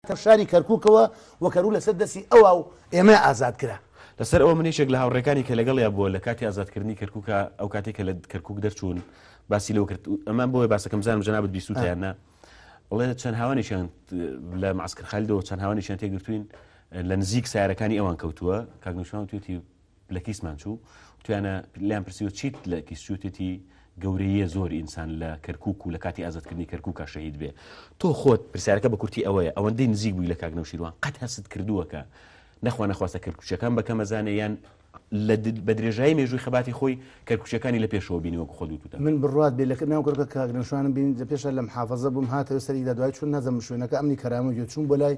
تر شاری کەرکوکەوە و کەروو لەسەر دەستی ئەوا و ئێمە ئازاد کرا. لەسەر ئەوە من یەکێک لە هاوڕێکانی کە لەگەڵیا بووە لە کاتی ئازادکردنی کەرکوکا ئەو کاتەی کە لە کەرکوک دەرچوون باسی لەوە کرد ئەمان بۆیە باسەکەم بزانم جەنابت بیستوتیان نا ئەڵێ چەند هاوانێکیان لە معسکر خالدەوە چەند هاوانێکیان تێگرتوین لە نزیک سارەکانی ئەوان کەوتووە کاک نوشمان توێتی لە کیسمان چوو توانە لەم پرسیوە چیت لە کیسچوتێتی گەورەیە زۆر ئینسان لە کەرکک و لە کاتی ئازادکردنی کەرککە شەهید بێ تۆ خۆت پرسیارەکە بە کورتی ئەوەیە ئەوەندەی نزیک بووی لە کاک نەوشیروان قەت هەست کردووەکە نەخوا نەخواستە کردکوچەکان بەکەم مەزانێ یان لە بە درێژایی مێژووی خەباتی خۆی کەرکوچەکانی لە پێشەوە بینیوە خۆ دووتان من بڕات بێ لە ناو کڕکە کاگرنشوانم بین لە پێشە لەم حافظە بووم هاتەوە سەریدا دوای چون نەزم شوێنەکە ئەمنی کەرامە گوێ چوون بۆ لای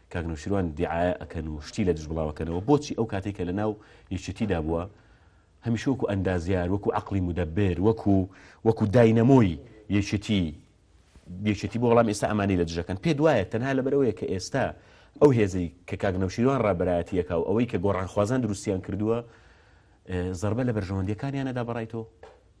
کاک نەوشیروان دیعایە ئەکەن و شتی لە دژ بڵاوەکەنەوە بۆچی ئەو کاتێک کە لە ناو یەکێتیدا بووە هەمیشە وەکو ئەندازیار وەکو عقلی مدەبر وەکو وەکو داینەمۆی یەکێتی یەکێتی بۆ وەڵام ئێستا ئەمانی لە دژەکەن پێ دوایە تەنها لەبەرەوەیە کە ئێستا ئەو هێزەی کە کاک نەوشیروان ڕابەرایەتیەکە و ئەوەی کە گۆڕانخوازان دروستیان کردووە زربە لە بەرژەوەندەکانیانەدا بەڕای تۆ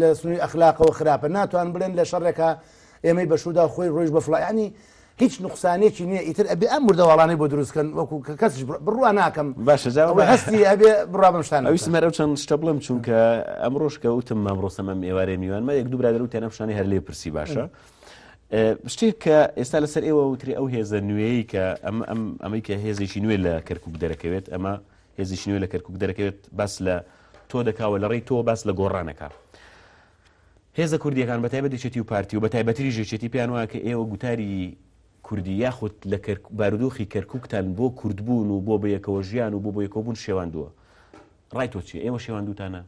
لە سنووی ئەخلاقەوە خراپە ناتوان بڵێن لە شەڕێکا ئێمەی بەشودا خۆی ڕۆژ بە فلایانی هیچ نقصانێکی نییە ئیتر ئەبێ ئەم مردەواڵانەی بۆ دروستکەن وەکو کە کەسش بڕوا ناکەم باشە هەستی ئەبێ بڕابم شتان ئەویسمەرە چەند شتە بڵم چونکە ئەم ڕۆژکە وتم مام ڕۆسەمە ئێوارێ میوانمە یەک دوو برادر و تێنە شتانی هەر لێ پرسی باشە. شتێک کە ئێستا لەسەر ئێوە وتری ئەو هێزە نوێی کە ئەم ئەم ئەمەی کە هێزێکی نوێ لە کەرکک دەرەکەوێت ئەمە هێزیکی نوێ لە کەرکوک دەرەکەوێت باس لە تۆ دەکا و لەڕێی تۆ باس لە گۆڕان دەکا. هێزە کوردیەکان بە تایبەت یەکێتی و پارتی و بە تایبەتریش یەکێتی پێیان وایە کە ئێوە گوتاری کوردی یاخود لە بارودۆخی کەرکوکتان بۆ کوردبوون و بۆ بەیەکەوە ژیان و بۆ بۆ یەکەوەبوون شێواندووە. ڕای تۆ چیە ئێوە شێواندووتانە؟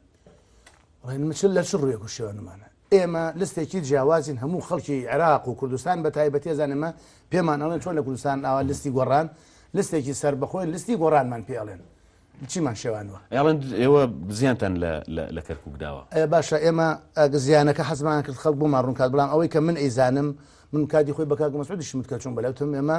ڕێنمچل لە چ ڕوویەک و شێوانمانە ئێمە لستێکی جیاوازین هەموو خەڵکی عێراق و کوردستان بەتایبەتی ئەزانن ئێمە پێمان ئەڵێن چۆن لە کوردستان ئاوا لستی گۆڕان لستێکی سەربەخۆین لستی گۆڕانمان پێ ئەڵێن چیمان شێواندوە؟ ئەڵێن ئێوە زیانتان لە کەرکوک داوە. باشە ئێمە زیانەکە حەزمان کرد خەڵک بۆمان ڕوونکات بەڵام ئەوەی کە من ئەیزانم من کاتی خۆی بە کاک مەسعودیشم وت کە چووم بەلای وتم ئێمە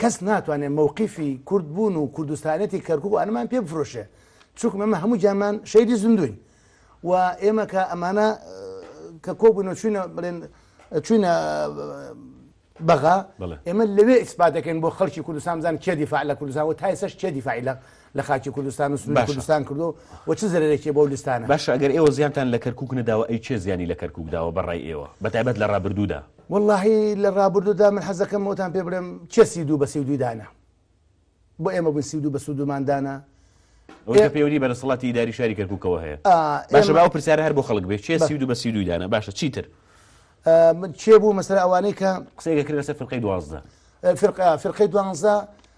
کەس ناتوانێ مەوقیفی کورد بوون و کوردستانێتی کەرکوک و ئەنەمان پێ بفرۆشێ چونکە ئەمە هەموو گیانمان شەیدی زیندووین و ئێمە کە ئەمانە کە کۆبوونەوە چوینە بڵێن چوینە بەغا بەڵێ. ئێمە لەوێ ئیسپات دەکەین بۆ خەڵکی کوردستان بزان کێ دیفاع لە کوردستان و تایسەش کێ دیفاعی لە لە خاکی کوردستان و سنووری باشە. کوردستان کردو و چ زەرێکی بۆ لستانە باش ئەگەر ئێوە زیانتان لە کەرکک نەداوە ئەی چێ زیانی لە کەرکک داوە بەڕای ئێوە بەتابەت لە ڕابردوودا واللهی لە ڕابردوودا من حەزەکەم وتان پێ بڵێم چێ سی دوو بە سی دووی دانا بۆ ئێمە بووین سی دوو بە سوودمان دانا ئەوەی پێوەری بە دەسەڵاتی داری شاری کەرککەوە هەیە باشە باو پرسیار هەر بۆ خەڵک بێ چێ سی دوو بە سی دووی دانا باشە چیتر چێ بوو مەسەر ئەوانەی کە قسەیەکە کرد لەسەر فرقەی دوازدە فرقە فرقەی دوانزە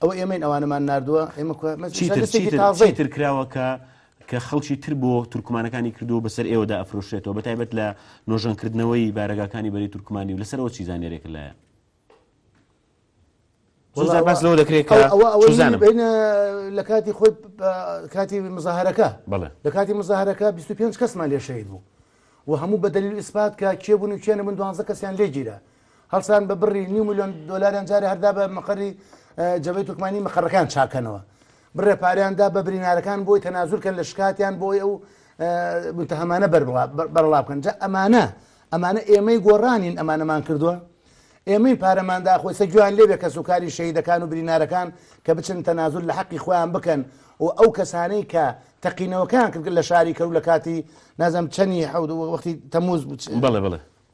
ئەوە ئێمەین ئەوانەمان نردووە ئێمە چیتر کراوە کە کە خەڵکی تر بۆ تورکمانەکانی کردو بەسەر ئێوەدا ئەفرۆشێتەوە بە تایبەت لە نۆژەنکردنەوەی بارەگاکانی بەری تورکمانی و لەسەرەوە چی زانێرێک لایە باس لەوە دەکرێت بینە لە کاتی خۆی کاتی مزاهرەکە لە کاتی مزاهرەکە 25 کەسمان لێ شەید بوو و هەموو بە دلیل ئیسپات کە کێبوون و کێنە من دوانزە کەسیان لێگیرە هەڵسان بە بڕی نیو میلیۆن دلاریان جارێ هەردا بە مەقەری جەبەی تورکمانی مەقەڕەکان چاکەنەوە بڕێ پاریاندا بە برینارەکان بۆی تەنازورکەن لە شکاتیان بۆی ئەو متهمانە بەرڵا بکەن جا ئەمانە ئەمانە ئێمەی گۆڕانین ئەمانەمان کردووە ئێمەی پارەماندا خۆی سەگویان لێبێ کەس و کاری شەیدەکان و برینارەکان کە بچن تەنازور لە حەقی خۆیان بکەن و ئەو کەسانەی کە تەقینەوەکان کرد لە شاری کەرو لە کاتی نازم چەنی حەود وەختی تەموز بڵێ بڵێ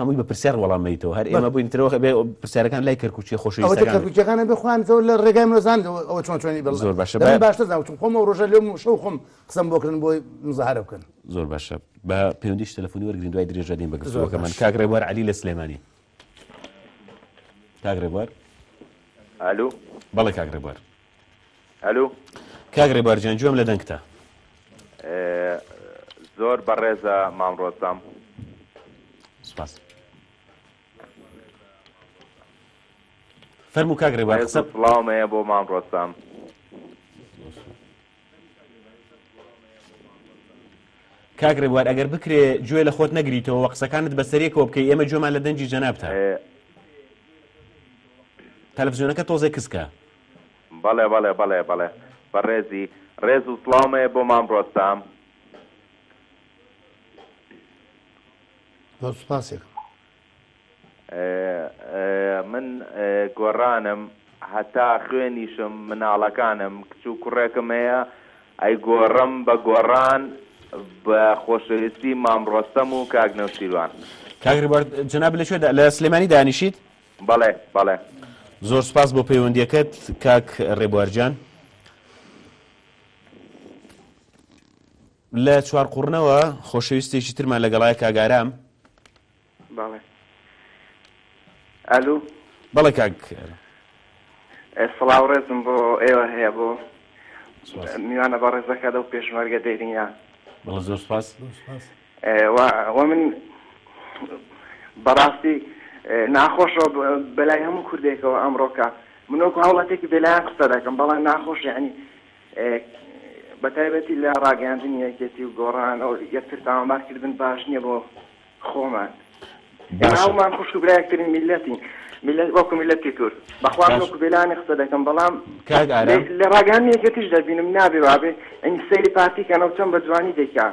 هەمووی بە پرسیار وەڵام میتەوە هەر ئێمە بووین ترەوە بێ پرسیارەکان لای کەرکوچی خۆشەکانەکان بخوان زۆر لە ڕێگای منۆزان ئەوە چۆن چۆنی بە زۆر باشە باشتر زانوتم خۆم و ڕۆژە لێم شەو خۆم قسەم بۆکردن بۆی مزارە بکەن زۆر باشە بە پێوەندیش تەلفۆنی وەرگین دوای درێژە دێن بەگەزۆەکەمان کاک ڕێبوار علی لە سلێمانی کاک ڕێبوار ئالو بەڵێ کاک ڕێبوار ئەلو. کاک ڕێبار گیان گوێم لە دەنگتە. زۆر بەڕێزە مام ڕۆستەم. سوپاس. فەرموو کاک ڕێبار قسە. ڕێز و سڵاوم هەیە بۆ مام ڕۆستەم. کاک ڕێبوار ئەگەر بکرێ گوێ لە خۆت نەگریتەوە قسەکانت بەسەرێکەوە بکەی ئێمە گوێمان لە دەنگی جەنابتە تەلەفزیۆنەکە تۆزێ کزکە بەڵێ بەڵێ بەڵێ بەڵێ بەڕێزی ڕێز و سڵاومەیە بۆ مام ڕۆستەم زۆر سوپاس من گۆرانم هەتا خوێنیشم مناڵەکانم کچ و کوڕێکم هەیە ئەیگۆرم بە گۆران بە خۆشەویستی مام ڕۆستەم و کاک نەوشیروان. کاک ڕیبەرت جەنابت لە کوێ دا لە سلێمانی دانیشیت؟ بەڵێ بەڵێ. زۆر سوپاس بۆ پەیوەندیەکەت کاک ڕێبوار گیان. لە چوارقوڕنەوە خۆشەویستێکی ترمان لەگەڵایە کاک ئارام. بەڵێ ئەلو. بەڵێ کاک ئێرە. سڵاو ڕێزم بۆ ئێوە هەیە بۆ میوانە بە ڕێزەکە لەو پێشمەرگە دێرینە بەڵە زۆر سپاس وە من بەڕاستی ناخۆشەوە بەلای هەموو کوردێکەوە ئەمڕۆکە منۆکو هەوڵەتێکی بێلایەن قسە دەکەم بەڵام ناخۆش یعنی بەتایبەتی لە ڕاگەاندنی یەکێتی و گۆڕان ئەو یەکتر تاوانبارکردن باش نییە بۆ خۆمان باشە ناومان خوشک و برای یەکترین میللەتین میللەت وەکو میللەتی کورد بەخوا من باش وەکو بێلانی قسە دەکەم بەڵام کاک لێ ئارام لە ڕاگەیاندنی یەکێتیش دەبینم نابێ وابێ ئینج سەیری پارتی کەنەوە چەن بە جوانی دەیکا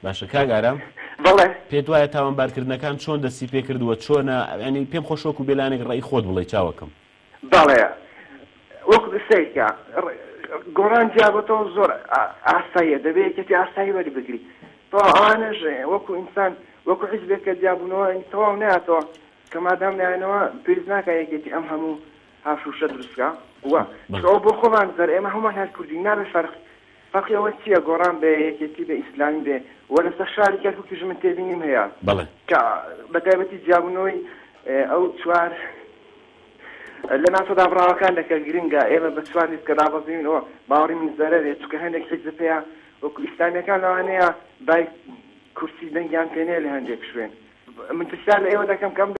باشە کاک ئارام بەڵێ پێت وایە تاوانبارکردنەکان چۆن دەستی پێکردووە چۆنە یانی پێم خۆشە وەکو بێلانێک ڕەئی خۆت بڵێی چاوەکەم. بەڵێ وەک سەیرکە گۆڕان جیابۆتەوە زۆر ئاساییە دەبێ یەکێتی ئاسایی وەربگری تەوا ئەوانەش وەکو ئینسان وەکو حیزبێک کە جیابوونەوە تەواو ناتەوە کە مادام نایەنەوە پێویست ناکە یەکێتی ئەم هەموو هاوشوشە دروستکە و چکەوە بۆ خۆمان زەر ئێمە هەمومان هەر کوردین نابێ فەرق فەرقی ئەوە چیە گۆڕان بێ یەکێتی بێ ئیسلامی بێ وە لەسەر شاری کەرکوکیش من تێبینیم هەیە بەڵێ. کە بەتایبەتی جیابونەوەی ئەو چوار لە ناوچە دابڕاوەکان دە کە گرنگە ئێمە بە چوار لیست کە دابەزیوین ئەوە باوەڕی من زەرەرێ چونکە هەندێک حیزب هەیە وەکو ئیسلامیەکان لەوانەیە بای کورسی دەنگیان پێ نەیە لە هەندێک شوێن من پرسیار لە ئێوە دەکەم کە ئەم